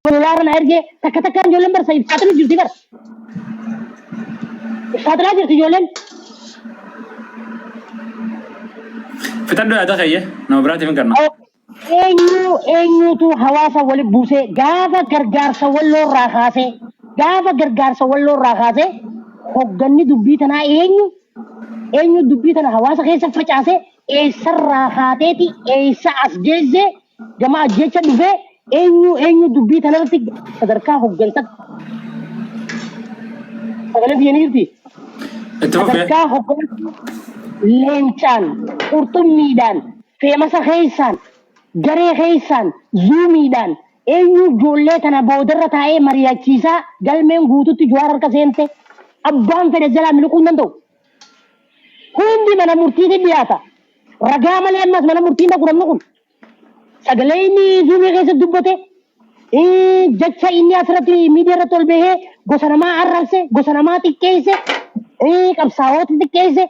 Koloolaarra na ergee takka takkaan ijoolleen barsa ibsaaxina jirti bara. Ibsaaxinaa jirti ijoolleen. Fixadhu yaada kayya nama biraatiif hin kenna. Eenyu eenyutu hawaasa wali buusee gaafa gargaarsa walloorraa kaasee gaafa gargaarsa walloorraa kaasee hogganni dubbii tanaa eenyu eenyu dubbii tana hawaasa keessa facaasee eessarraa kaateeti eessa as geesse gama ajjeecha dhufee eenyu eenyu dubbii tanarratti sadarkaa hoggansaatti sagalee biyya ni jirti Itti fufee. sadarkaa hoggansa leencaan qurxummiidhaan feemasa keessaan garee keessaan zuumiidhaan eenyu ijoollee tana boodarra taa'ee mari'achiisaa galmeen guututti jawaar harka seente abbaan fedhe jalaa miliquu hin danda'u Hundi mana murtiitti dhiyaata. Ragaa malee ammas mana murtii hin dhaqu namni kun. Sagalee inni zuumii keessatti dubbate, jecha inni asirratti miidiyaa irratti ol bahee gosa namaa arrabse, gosa namaa xiqqeesse, qabsaa'oota xiqqeesse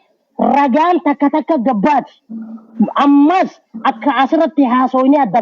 ragaan takka takka gabbaati. Ammas akka asirratti haasoofnee adda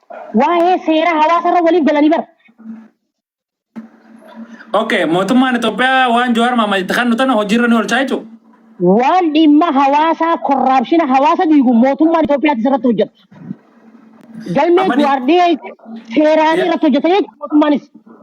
Waa'ee seera hawaasarra waliif galanii bara. Okay, mootummaan Itoophiyaa waan Jawaar Mohaammed itti kennu tana hojiirra ni oolchaa jechuudha. Waan dhimma hawaasaa korraapshina hawaasa diigu mootummaan Itoophiyaatti irratti hojjeta. Galmee Amani- Jawaar dhiyeesse seeraan Yeah. irratti hojjeta jechuudha mootummaanis.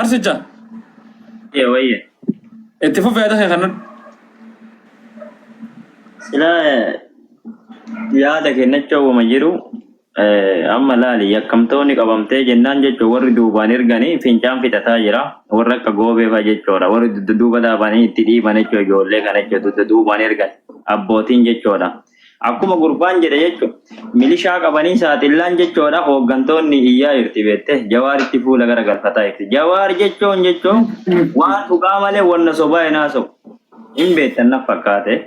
Arsicha. Ee wayye. Itti fufi yaada kee kanan. Sila yaada kennacha uuma jiru eh, amma laali yakkamtoonni qabamtee jennaan jechuun warri duubaan erganii fincaan fixataa jira. Warra akka goobeefaa jechuudha. Warri dudda duuba dhaabanii itti dhiiban jechuudha ijoollee kana jechuudha. Dudda duubaan ergan abbootiin jechuudha. Akkuma gurbaan jedhe jechu milishaa qabanii saaxillaan jechoodha hooggantoonni iyyaa jirti beette jawaaritti fuula gara galfataa jirti. Jawaar jechoon jechoo waan dhugaa malee wanna sobaa hin haasawu. Hin beektan naf fakkaate.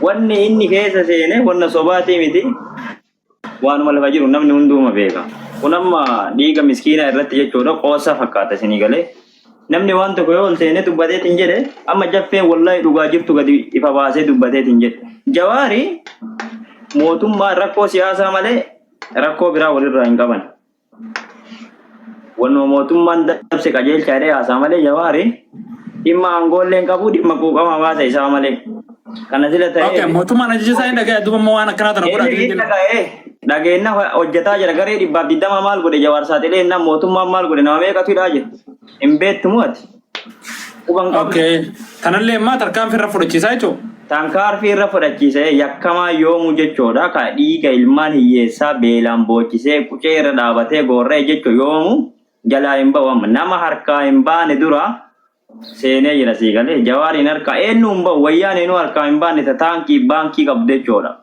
Wanni inni keessa seene wanna sobaatii miti. waanuma lafa jiru namni hunduuma beeka. Kun amma dhiiga miskiinaa irratti jechuudha qoosaa fakkaata isinii galee. Namni waan tokko yoo ol seenee dubbateetiin jedhe amma jaffeen wallahi dhugaa jirtu gadi ifa baasee dubbateetiin jedhe. Jawaari mootummaa rakkoo siyaasaa malee rakkoo biraa walirraa hin qaban. Wannuma mootummaan dabse qajeelcha jedhee haasaa malee Jawaari dhimma aangoollee hin qabu dhimma quuqama hawaasa isaa malee. Kana sila ta'ee Okay, mootummaan ajaja isaa hin dhaga'e duuba immoo waan akkanaa tana godha Inni jechuudha. dhaga'ee dhageenna hojjetaa jira garee dhibbaaf digdama maal godhe jawaar saaxilee innaan mootummaan maal godhe nama meeqatu hidhaa jira hin beektu moo ati Quban qabna. Okay. Tanallee ammaa tarkaanfii irra fudhachiisaa jechuudha. Tankaarfii irra fudhachiisee yakkamaa yoomuu jechoodha. Ka dhiiga ilmaan hiyyeessaa beelaan boochisee qucee irra dhaabatee goorra'e jecho yoomu jalaa hin ba'u amma. Nama harkaa hin baane dura seenee jira sii galee. Jawaariin harkaa eenyu hin ba'u wayyaaneenuu harkaa hin baane ta taankii baankii qabdu jechoodha.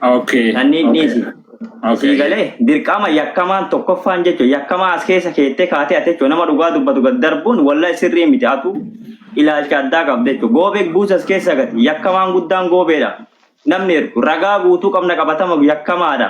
Okay. Sanniin okay. dhiisi. Sii Okay. galee dirqama yakkamaan tokkoffaan jechuun yakkamaa as keessa keettee kaatee ati jechuun nama dhugaa dubbatu gad darbuun walla sirrii miti atu ilaalcha addaa qabda jechuun goobee buusa as keessa gati yakkamaan guddaan goobeedha namni ergu ragaa guutuu qabna qabatama yakkamaadha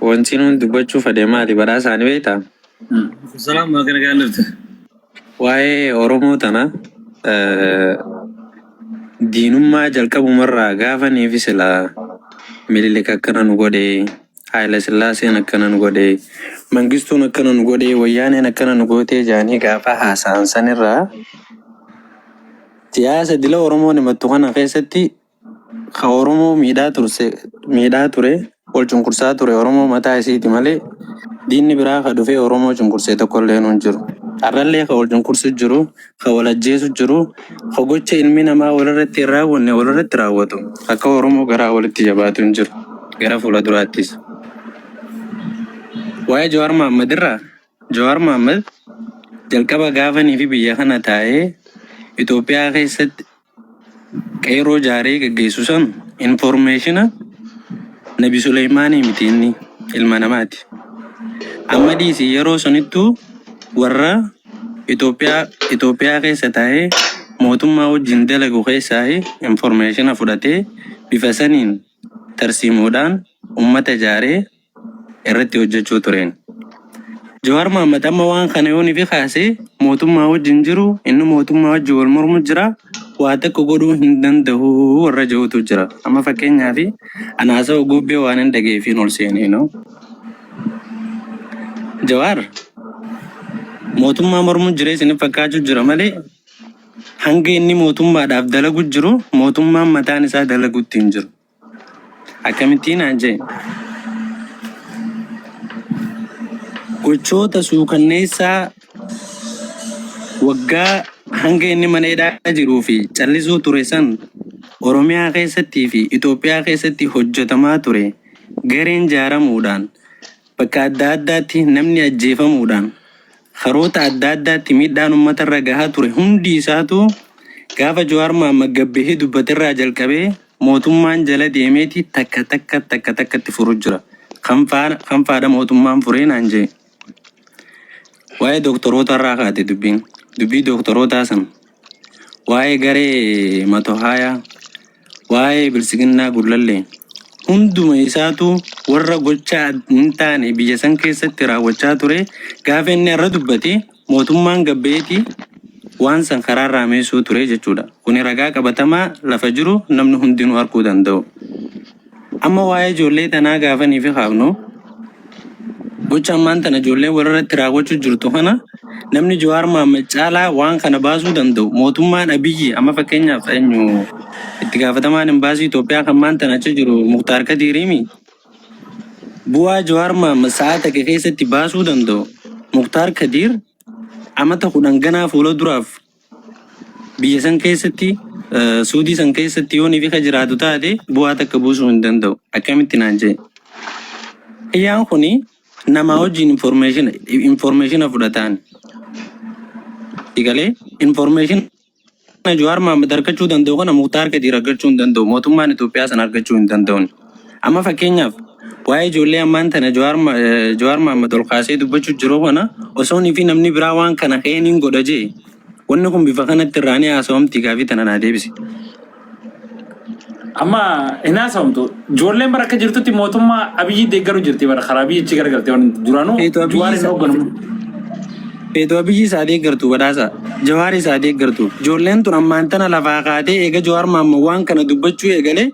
Wanti nuun dubbachuu fade maali baraa isaani beektaa? Salaam maa kana gaan dhufte. Waa'ee Oromoo tana eh, diinummaa jalqabumarraa gaafa niifi silaa Minilik akkana nu godhe, Haayila Sillaaseen akkana nu godhe, Mangistuun akkana nu godhe, Wayyaaneen akkana nu gootee jaanii gaafa haasa'an sanirraa siyaasa dila Oromoon himattu kana keessatti Ka Oromoo miidhaa turse miidhaa ture wal cunqursaa ture Oromoo mataa isiiti malee diinni biraa ka dhufee Oromoo cunqursee tokkollee hin jiru. Har'allee ka wal cunqursu jiru, ka wal ajjeesu jiru, ka gocha ilmi namaa walirratti hin raawwanne walirratti raawwatu akka Oromoo garaa walitti jabaatu hin jiru. Gara fuula duraattis. Waa'ee Jawaar Mohaammed irraa Jawaar Mohaammed jalqaba gaafanii fi biyya kana taa'ee Itoophiyaa keessatti Qeerroo jaaree gaggeessu sanu informeeshina nabi Suleymaanii miti inni ilma namaati. Amma dhiisi yeroo sunittuu warra Itoophiyaa Itoophiyaa keessa taa'ee mootummaa wajjin dalagu keessaa informeeshina fudhatee bifa saniin tarsiimoodhaan ummata jaaree irratti hojjechuu tureen. Jawaar Mohaammed amma waan kana yoon ifi kaasee mootummaa wajjin jiru inni mootummaa wajjin wal mormu jira waa takka godhuu hin danda'u warra jedhutu jira. Amma fakkeenyaaf ana haasawaa guubbee waan hin dhageeffiin ol seenee noo. Jawaar mootummaa mormu jira isin fakkaachuu jira malee hanga inni mootummaadhaaf dalagu jiru mootummaan mataan isaa dalagutti hin jiru. Akkamittii naan jee? Gochoota suukanneessaa waggaa hanga inni mana hidhaa jiruu fi callisuu ture san Oromiyaa keessattii fi Itoophiyaa keessatti hojjetamaa ture gareen jaaramuudhaan Bakka adda addaatti namni ajjeefamuudhaan karoota adda addaatti miidhaan uummata irra gahaa ture hundi isaatuu gaafa Jawaar Mohaammed gad bahee dubbate irraa jalqabee mootummaan jala deemeeti takka takka takka takkatti furu jira. Kam faadha mootummaan furee naan jee. Waa'ee dooktorootaa irraa kaate dubbiin. Dubbii dooktorootaa san waa'ee garee matohaayaa, waa'ee bilsiginnaa gullallee hunduma isaatu warra gochaa hin taane biyya san keessatti raawwachaa ture gaafa inni irra dubbate mootummaan gabbeetii waan san karaa irraa meessuu ture jechuudha. Kuni ragaa qabatamaa lafa jiru namni hundinuu arguu danda'u. Amma waa'ee ijoollee tanaa gaafa niifi kaafnu, gocha ammaan tana ijoolleen walirratti raawwachuu jirtu kana namni Jawaar Mohammed caalaa waan kana baasuu danda'u mootummaan Abiyyi amma fakkeenyaaf eenyu itti gaafatamaan imbaasii Itoophiyaa kan ammaan tana achi jiru Muktaar Kadiiriimi bu'aa Jawaar Mohammed sa'aa takka keessatti baasuu danda'u Muktaar Kadiir amata kudhan ganaa fuula duraaf biyya san keessatti suudii san keessatti yoon ifi ka jiraatu taate bu'aa takka buusuu hin danda'u akkamitti naan jee kiyyaan kun namaa wajjin information informationa fudhataan igalee information Jowaar Mahammad argachuu danda'u kana Muktaar Kadiir argachuu hin danda'u mootummaan Itoophiyaa san argachuu hin danda'u. Amma fakkeenyaaf waa'ee ijoollee ammaan tana Jawaar Ma- eh, Jawaar Mahammad ol kaasee dubbachuu jiru kana osoonii fi namni biraa waan kana ka'ee niin godha jee wanni kun bifa kanatti irraa ni haasawamti gaafii tana naa deebisi. Amma hin haasawamtu. Ijoolleen bara akka jirtutti mootummaa Abiyyi deeggaru jirti bara karaa Abiyyi achi garagalte waan duraanuu Feetu Abiyyi Jawaar hin isa- hoogganamu. Feetu Abiyyi isaa deeggartu badhaasa Jawaar isaa deeggartu ijoolleen tun ammaan tana lafaa kaatee eega Jawaar Mahammad waan kana dubbachuu eegalee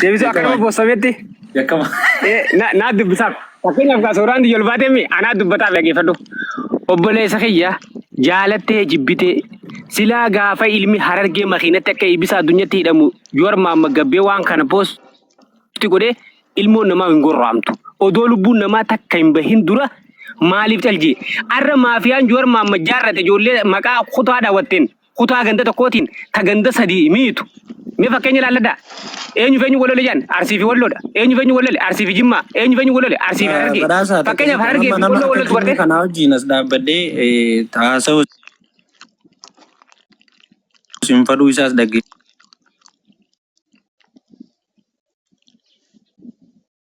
Deebisuu akka nama bossametti. Yakkama. Eh, na naa dubbisaaf fakkeenyaaf kaa sooraan diyyol baatee mi anaa dubbataaf dhageeffadhu obboleessa kiyya jaalattee jibbitee silaa gaafa ilmi harargee makiinatti akka ibisa addunyatti hidhamu yoo armaan maggabbee waan kana poosti godhee ilmoon namaa hin gorraamtu odoo lubbuun namaa takka hin bahin dura maaliif caljee arra maafiyaan yoo armaan majjaarrate ijoollee maqaa kutaa daawwatteen kutaa ganda tokkootiin ta ganda sadii miitu mee fakkeenya ilaalladhaa eenyu feenyu walole jedhan arsii fi walloodha eenyu feenyu walole arsii fi jimmaa eenyu feenyu walole arsii fi harargee Badhaasaa fakkeenyaaf tokko harargee fi nama walloo wallootu akkasii bartee kanaa wajjin as dhaabbadhee eh, haasa'u isin fadhuu isaas dhagge.